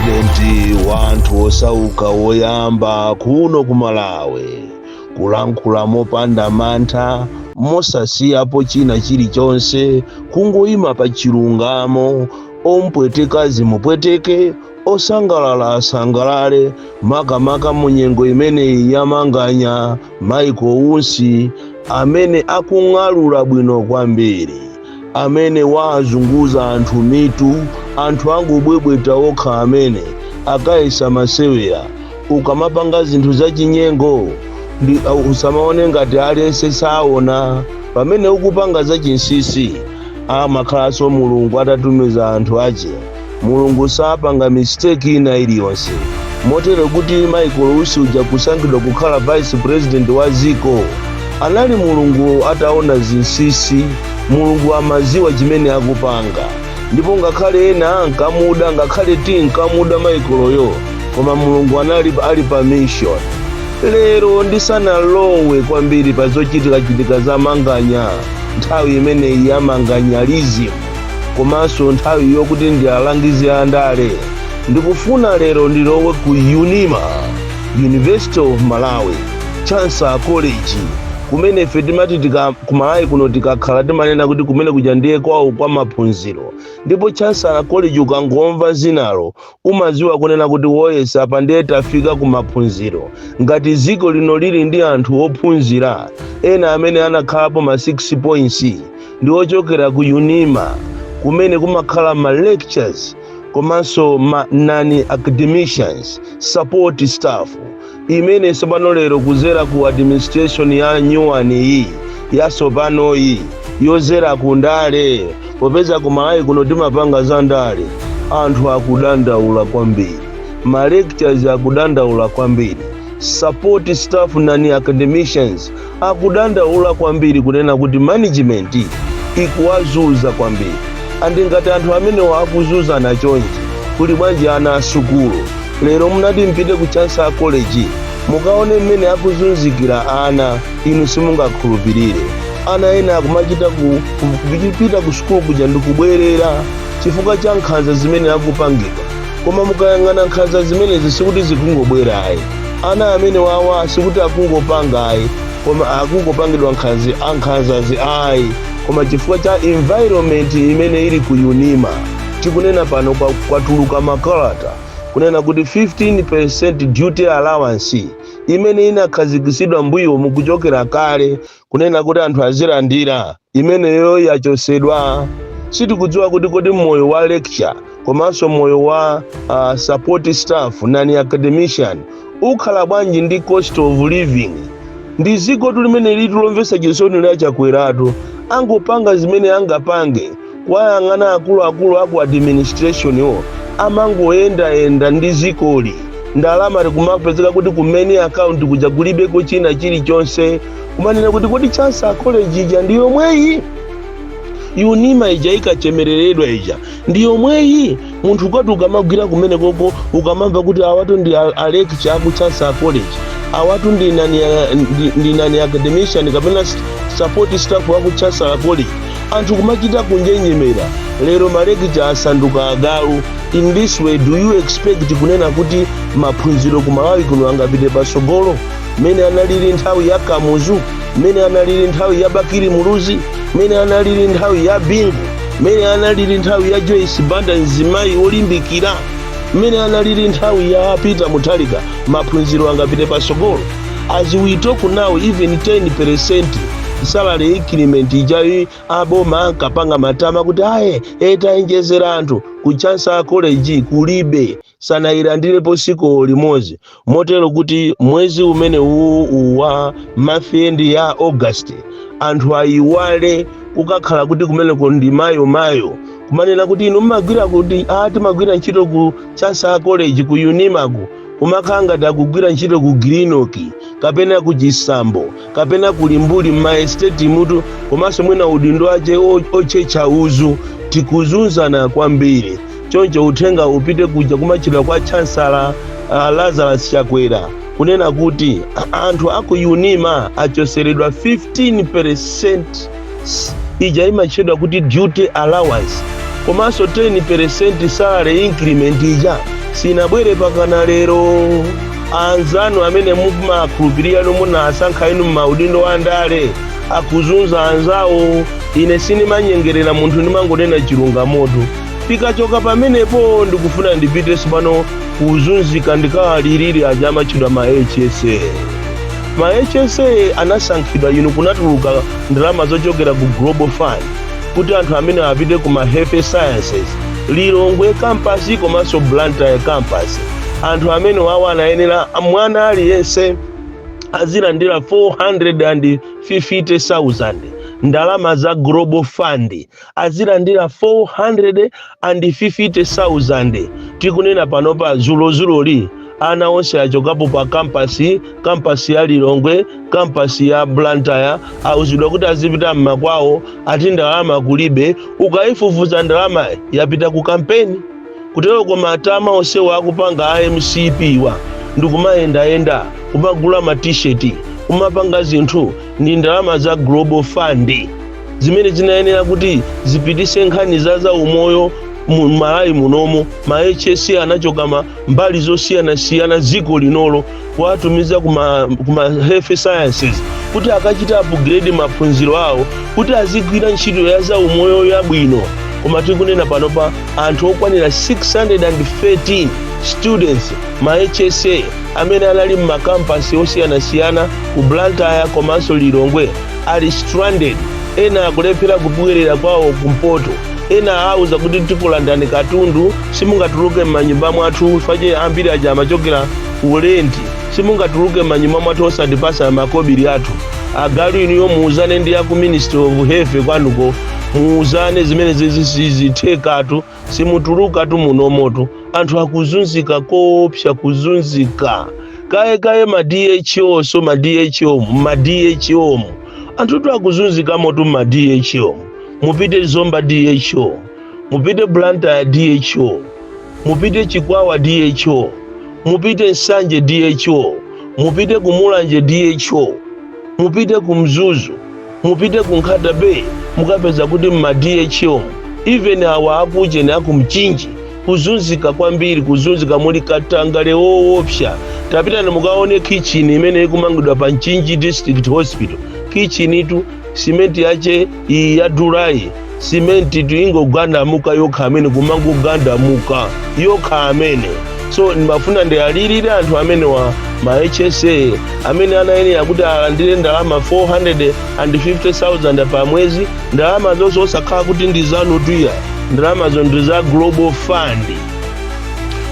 presidenti wa anthu osauka woyamba kuno ku malawi kulankhula mopanda mantha mosasiyapo china chilichonse kungoyima pa chilungamo omupweteka zimupweteke osangalala asangalale makamaka mu nyengo imeneyi yamanganya Michael Usi amene akung'alula bwino kwambiri amene waazunguza anthu mitu anthu angobwebweta okha amene akayesa masewera. Ukamapanga zinthu zachinyengo ndi uh, usamaone ngati aliyense saona pamene ukupanga zachinsisi amakhalanso mulungu atatumiza anthu ache Mulungu sapanga mistake ina iliyonse. Motero kuti Michael Usi uja kusankhidwa kukhala vice president wa dziko anali Mulungu ataona zinsisi. Mulungu amaziwa chimene akupanga ndipo ngakhale ena ankamuda ngakhale tinkamuda Michaelyo koma Mulungu anali ali pa mission. Lero ndisanalowe kwambiri pa zochitikachitika za Manganya nthawi imeneyi ya Manganyalism. komanso nthawi yokuti ndi alangizi a ndale ndikufuna lero ndilowe ku unima university of malawi chancellor college kumene ife timati tika- ku malawi kuno tikakhala timanena kuti kumene kuja ndiye kwawo kwa maphunziro ndipo chancellor college ukangomva zinalo umadziwa kunena kuti woyesa apa ndiye tafika ku maphunziro ngati dziko lino lili ndi anthu ophunzira ena amene anakhalapo ma 6 points ndi ochokera ku unima kumene kumakhala ma lecturers komanso ma non academicians support staff imene tsopano lero kuzera ku administration ya new one iyi yatsopanoyi yozera ku ndale popeza ku malawi kuno timapanga za ndale anthu akudandaula kwambiri ma lecturers akudandaula kwambiri support staff non academicians akudandaula kwambiri kunena kuti management ikuwazuza kwambiri and ngati anthu amenewa akuzuzana chonchi kuli bwanji ana asukulu lero munati mpite ku chancellor college mukaone mmene akuzunzikira ana inu simungakhulupirire ana ena akumachita ku- ku- kupita ku sukulu kuja ndikubwerera chifukwa cha nkhanza zimene akupangidwa koma mukayang'ana nkhanza zimenezi sikuti zikungobwera ayi ana amene wawa sikuti akungopanga ayi koma akungopangidwa nkhanzi nkhanzazi ayi koma chifukwa cha environment imene ili ku unima tikunena pano kwa- kwatuluka makalata kunena kuti 15% duty allowance imene inakhazikitsidwa mbuyomu kuchokera kale kunena kuti anthu azilandira imeneyo yachotsedwa sitikudziwa kuti kodi moyo wa lecturer komanso moyo wa uh, support staff non academician ukhala bwanji ndi cost of living ndi dzikotu limeneli tu lomvetsa chisoni la Chakweratu angopanga zimene angapange Kuwayang'ana akuluakulu aku administration-wo amangoyendayenda ndi zikoli ndalama ikumapezeka kuti ku main account kuja kulibeko china chilichonse kumanena kuti kodi Chancellor College ija ndi yomweyi unima ija ikachemereredwa ija ndi yomweyi munthu ukati ukamagwira kumenekoko ukamamva kuti awatu ndi a- alecturer aku Chancellor College awatu ndi non a- ndi- ndi non academician kapena s- support staff waku Chancellor College anthu kumachita kunjenjemera lero malekicha asanduka agalu in this way do you expect kunena kuti maphunziro ku malawi kuno angapite patsogolo mmene analili nthawi ya kamuzu mmene analili nthawi ya bakili muluzi mmene analili nthawi ya bingu mmene analili nthawi ya joyce banda mzimayi wolimbikira mmene analili nthawi ya peter mutharika maphunziro angapite patsogolo as we talk now even 10 percent salary increment ijayi aboma ankapanga matama kuti ayi taonjezera anthu ku Chancellor College kulibe sanayilandirepo tsiku limodzi motero kuti mwezi umene uwu uwu wa month end ya august anthu ayiwale kukakhala kuti kumeneko ndi mayo mayo kumanena kuti inu mmagwira kuti a timagwira ntchito ku Chancellor College ku unimako kumakhala ngati akugwira ntchito ku grinoki kapena ku chisambo kapena ku Limbuli mma estate-mutu komanso mwina udindo wache o- otchetcha uzu tikuzunzana kwambiri choncho uthenga upite kuja kumatchedwa kwa chansala uh, lazarus chakwera kunena kuti anthu aku unima achotseredwa 15 ija imatchedwa kuti duty allowance komanso 10% salary increment ija sinabwere mpakana lero anzanu amene mumakhulupirira nomwe munasankha inu m'maudindo a ndale akuzunza anzawo ine sindimanyengerera munthu ndimangonena chilungamotu tikachoka pamenepo ndikufuna ndipite tsopano kuzunzika ndikawalilire aja amatchedwa ma hsa ma hsa anasankhidwa inu kunatuluka ndalama zochokera ku global fund kuti anthu amenewa apite ku ma health sciences lilongwe kampasi komanso blantyre kampasi anthu amenewawo anayenera mwana aliyense azilandira 450,000 ndalama za global fund azilandira 450,000 tikunena panopa dzulodzuloli ana onse achokapo pa kampasi kampasi ya lilongwe kampasi ya blantyre auzidwa kuti azipita mmakwawo ati ndalama kulibe ukaifufuza ndalama yapita ku kampeni kuteroko matama onsewo akupanga a mcp wa ndikumayendayenda kumagula ma t-shirt kumapanga zinthu ndi ndalama za global fund zimene zinayenera kuti zipitise nkhani za zaumoyo mu malawi munomo ma hsa anachoka m'mbali zosiyanasiyana dziko linolo kuwatumiza kuma, kuma health sciences kuti akachite upgrade maphunziro awo kuti azigwira ntchito ya zaumoyo yabwino koma tikunena panopa anthu okwanira 613 students ma hsa amene anali m'makampasi osiyanasiyana ku blantyre komanso lilongwe ali stranded ena akulephera kubwerera kwawo kumpoto ena auza kuti tikulandani katundu simungatuluke m'manyumba mwathu paja ambiri aja amachokera ku lenti simungatuluke m'manyumba mwathu osatipasa makobiri athu agalu inu muuzane ndi aku ministry of health kwanuko muuzane zimenezo sizithekatu simutulukatu munomotu anthu akuzunzika koopsa kuzunzika kaye kaye ma dho so ma dho ma dho anthutu akuzunzikamotu mma dho mupite zomba dho mupite blantyre dho mupite chikwawa dho mupite nsanje dho mupite kumulanje dho mupite ku mzuzu mupite ku nkhata bay mukapeza kuti mma dho even awa akujeni akumchinji kuzunzika kwambiri kuzunzika muli katangale woopsa tapitani mukaone kitchen imene ikumangidwa pa mchinji district hospital kitchenitu simenti yake iyi yadulayi simentitu ikungogandamuka yokha amene kumangogandamuka yokha amene so ndimafuna ndiwalirire anthu amenewa ma hsa amene anayenera kuti alandire ndalama 450000 pa mwezi ndalama zonse osakhala kuti ndi zanutu ayi ndalamazo ndi za global fund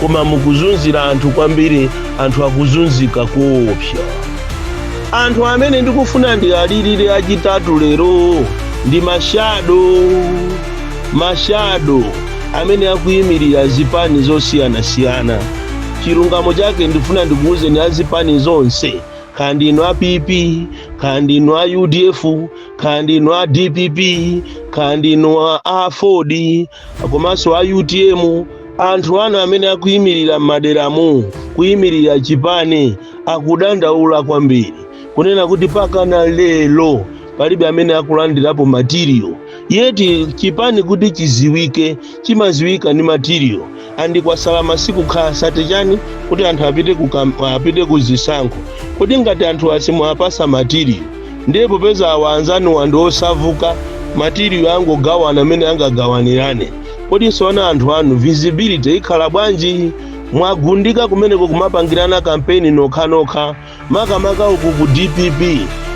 koma mukuzunza anthu kwambiri anthu akuzunzika koopsa anthu amene ndikufuna ndiwalirire achitatu lero ndi mashado mashado amene akuyimirira zipani zosiyanasiyana chilungamo chake ndifuna ndikuwuzeni azipani zonse kaya ndi inu a pp kaya ndi inu a udf kaya ndi inu a dpp kaya ndi inu a aford komanso a utm anthu anu amene akuyimirira m'maderamu kuyimirira chipani akudandaula kwambiri kunena kuti pakana lero palibe amene akulandirapo material yeti chipani kuti chiziwike chimaziwika ndi material and kwasala masiku okha 30 chani kuti anthu apite ku kamp- apite ku zisankho kodi ngati anthu simuwapasa matiriyo ndiye popeza awa anzanuwa ndi osavuta matiriyo angogawana mmene angagawanirane kodi tsono anthu anu visibility ikhala bwanji mwagundika kumeneko kumapangirana kampeni nokhanokha Makamaka uku ku dpp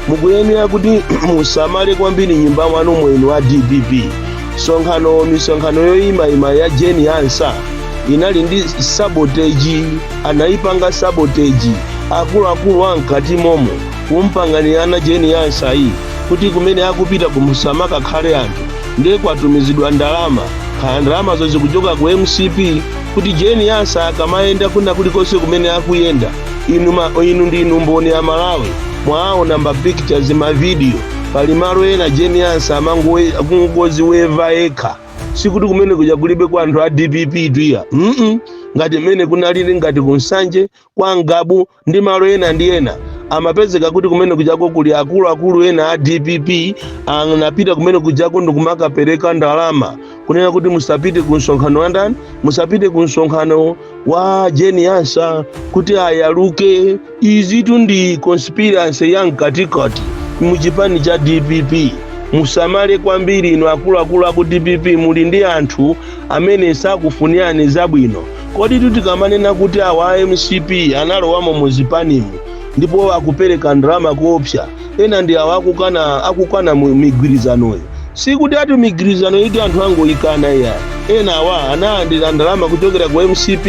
mukuyenera kuti musamale kwambiri m'nyumba mwanu mwenu wa dpp. Msonkhano misonkhano yoyimayima ya Jane Ansah inali ndi sabotage, anayipanga sabotage akuluakulu a mkati momo kumpanganirana Jane Ansah yi kuti kumene akupita kuno kusamakakhale anthu ndiye kwatumizidwa ndalama kaya ndalamazo zikuchoka ku mcp kuti Jane Ansah akamayenda kwina kulikonse kumene akuyenda inu, ma, inu ndinu mboni amalawi mwaona ma pictures mavidiyo pali malo ena Jane Ansah amangoziweva yekha sikuti kumene kuja kulibe kwa anthu a dpp iyayi mm ngati mmene kunalili ngati ku nsanje kwa ngabu ndi malo ena ndi ena amapezeka kuti kumene kujako kuli akuluakulu ena a dpp anapita kumene kujako ndikumakapereka ndalama kunena kuti musapite ku msonkhano wa ndani musapite ku msonkhano wa Jane Ansah kuti ayaluke izitu ndi conspiracy ya mkatikati mu chipani cha dpp musamale kwambiri inu akuluakulu aku dpp muli ndi anthu amene sakufunirani zabwino koditu tikamanena kuti awa a mcp analowamo mu zipanimu ndipo akupereka ndalama kuopsa ena ndi awa akukana akukana migwirizanoyo sikuti ati migwirizano iti anthu angoyikana iya ena awa analandira ndalama kuchokera ku mcp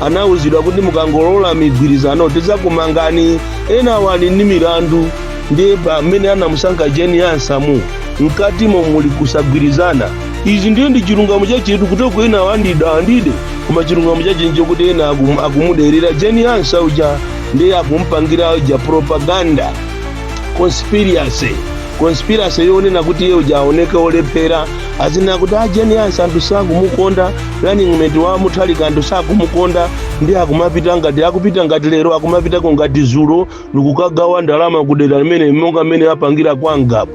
anauzidwa kuti mukangolola migwirizano tidzakumangani ena awa ali ndi milandu ndiye pamene anamusankha Jane Ansah mkatimo muli kusagwirizana izi ndiye ndi chilungamo chachetu kuti ena awa ndida andide koma chilungamo chache ndi chakuti ena akum- akumuderera Jane Ansah uja ndiye akumpangira uja propaganda conspiracy conspiracy yonena kuti iye uja aoneke olephera azinena kuti a Jane Ansah anthu sakumukonda running mate wa mutharika anthu sakumukonda ndiye akumapita ngati akupita ngati lero akumapitako ngati zulo ndikukagawa ndalama kudera limene monga mmene apangira kwa ngabu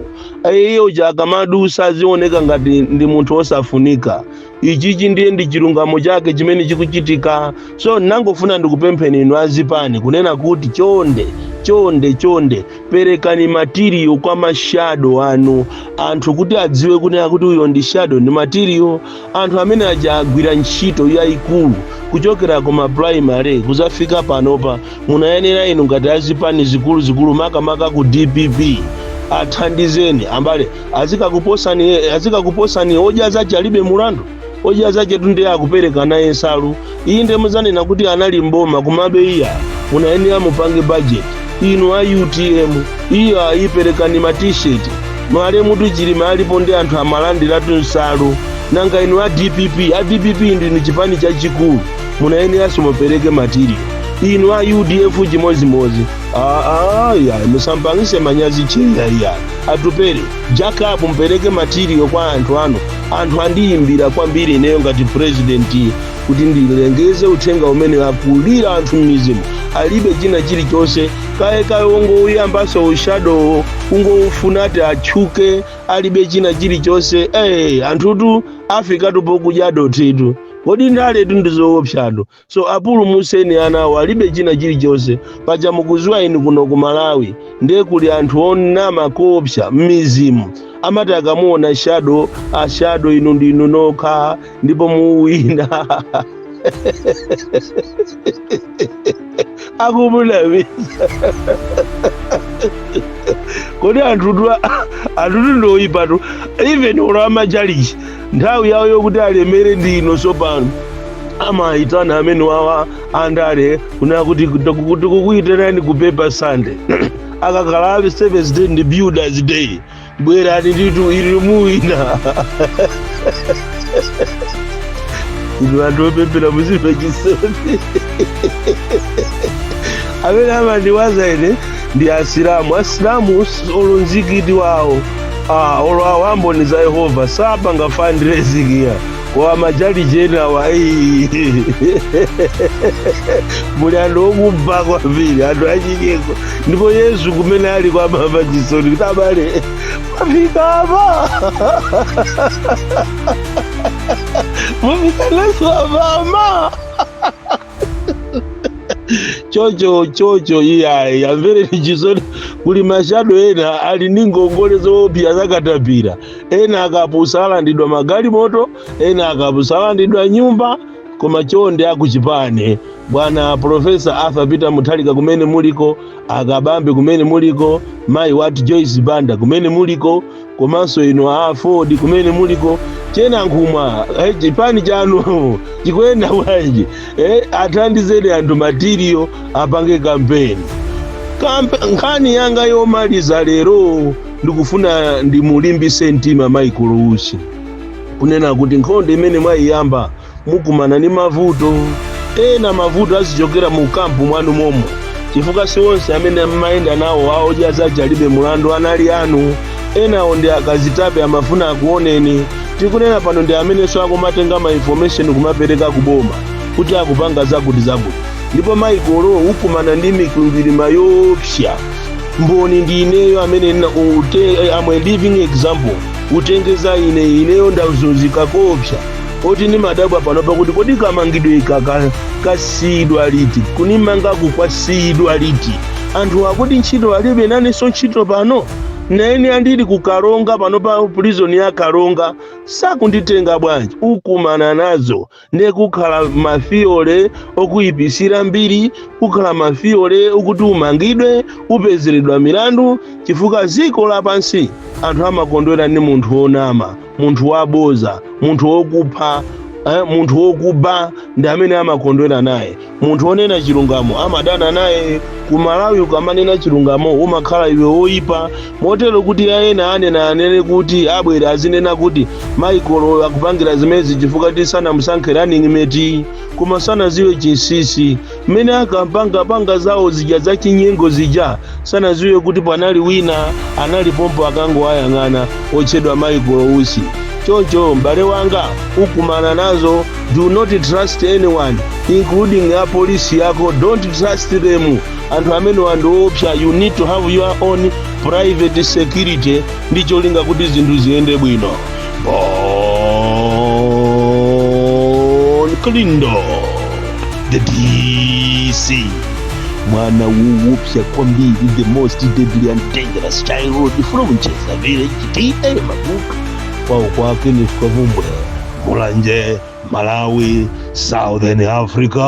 iye uja akamadusa azioneka ngati ndi munthu osafunika ichichi ndiye ndi chilungamo chake chimene chikuchitika so nangofuna ndikupempheni inu azipani kunena kuti chonde chonde chonde perekani matiriyo kwa mashado anu anthu kuti adziwe kunena kuti uyo ndi shado ndi matiriyo anthu amene aja agwira ntchito yayikulu kuchokera ku maprimary kudzafika panopa munayenera inu ngati azipani zikuluzikulu makamaka ku dpp athandizeni ambale azikakuposani azikakuposani odya zake alibe mulandu odya zaketu nde akupereka naye nsalu iyi nde muzanena kuti anali mboma kumabe iya munayenera mupange budget inu a utm iyayi perekani ma t-shirt malemutu chilima alipo nde anthu amalandiratu nsalu nanga inu a dpp a dpp ndinu chipani chachikulu munayeneranso mupereke matiriyo inu a udf chimodzimodzi Aya, musapangitse manyazi cheya iya atupere jakobu mpereke matiriyo kwa anthu anu anthu andiyimbira kwambiri ineyo ngati purezidenti kuti ndilengeze uthenga umene akulira anthu m'mizimu alibe china chilichonse kaye kaye wongouyambaso ushadowo kungofuna ati atchuke alibe china chilichonse eh anthutu afikatu pokudya dothitu kodi ndaletu ndizoopsatu so apulumuseni anawo alibe china chilichonse paja mukudziwa inu kuno ku malawi ndiye kuli anthu onama koopsa m'mizimu amati akamuona shado ashado inu ndinu nokha ndipo muwina akumunamiza kodi anthutu anthutu ndoyipatu even olo amatchalitchi nthawi yawo yokuti alemere ndi ino tsopano amayitana amenewawa andale kunena kuti tikukuyitanani ku paper sunday akakhala a seventh day ndi builders day bwerani nditu ili muwina inu anthu opemphera muzimva chisoni amene amandiwaza ine ndi asilamu asilamu us- olo mzikiti wawo ah, olo awo amboni za yehova sapanga fundraising ya kwa matchalitchi enawa muli anthu okuba kwambiri anthu achikeko ndipo yesu kumene ali akumamva chisoni kuti abale mwafika apa mwafika nazo apapa chocho chocho iyayi amvereni chisoni kuli mashado ena ali ndi ngongole zoopsa zakatapira ena akapusa alandidwa magalimoto ena akapusa alandidwa nyumba koma chonde akuchipani bwana profesa arthur peter mutharika kumene muliko akabambe kumene muliko mayi wati joyce banda kumene muliko komanso inu a AFORD kumene muliko che Nankhumwa eh, chipani chanu chikuyenda bwanji eh, athandizeni anthu matiriyo apange kampeni nkhani yanga yomaliza lero ndikufuna ndimulimbise mtima Michael Usi kunena kuti nkhondo imene mwayiyamba mukumana ndi mavuto ena mavuto azichokera mu kampu mwanu momo chifukwa si onse amene mmayenda nawo a Odya Zake alibe mulandu anali anu enawo ndi akazitape amafuna akuoneni tikunena pano ndi amenenso akumatenga ma information kumapereka kuboma kuti akupanga zakuti zakuti ndipo Michael ukumana ndi mikwingwirima yoopsa mboni ndi ineyo amene I'm a living example utengeza ine ineyo ndazunzika koopsa oti ndimadabwa panopa kuti kodi kamangidwe ika ka- kasiyidwa liti kunimangaku kwasiyidwa liti anthu akuti ntchito alibe nanenso ntchito pano naene andili ku karonga pano pa prison ya karonga sakunditenga bwanji ukumana nazo ndiye kukhala mafiyole okuyipisira mbiri kukhala mafiyole okuti umangidwe upezeredwa milandu chifukwa ziko lapansi anthu amakondwera ndi munthu wonama munthu waboza munthu wokupha eh, munthu wokuba ndi amene amakondwera naye munthu wonena chilungamo amadana naye ku malawi ukamanena chilungamo umakhala iwe woyipa motero kuti ayena anena anene kuti abwera azinena kuti Michael akupangira zimezi chifukwa kuti sanamusankhe running mate koma sanaziwe chinsisi Mmene akampanga panga zawo zija za chinyengo zija sanaziwe kuti panali wina anali pompo akangowayang'ana otchedwa Michael Usi. Choncho m'bale wanga ukumana nazo, do not trust anyone including a polisi yako, don't trust them. Anthu amenewa ndi oopsa, you need to have your own private security ndi cholinga kuti zinthu ziyende bwino. Bon Kalindo the DC mwana wowopsa kwambiri the most deadly and dangerous child from Njedza village TA Mabuka kwao kwake ni Kavumbwe Mulanje Malawi Southern Africa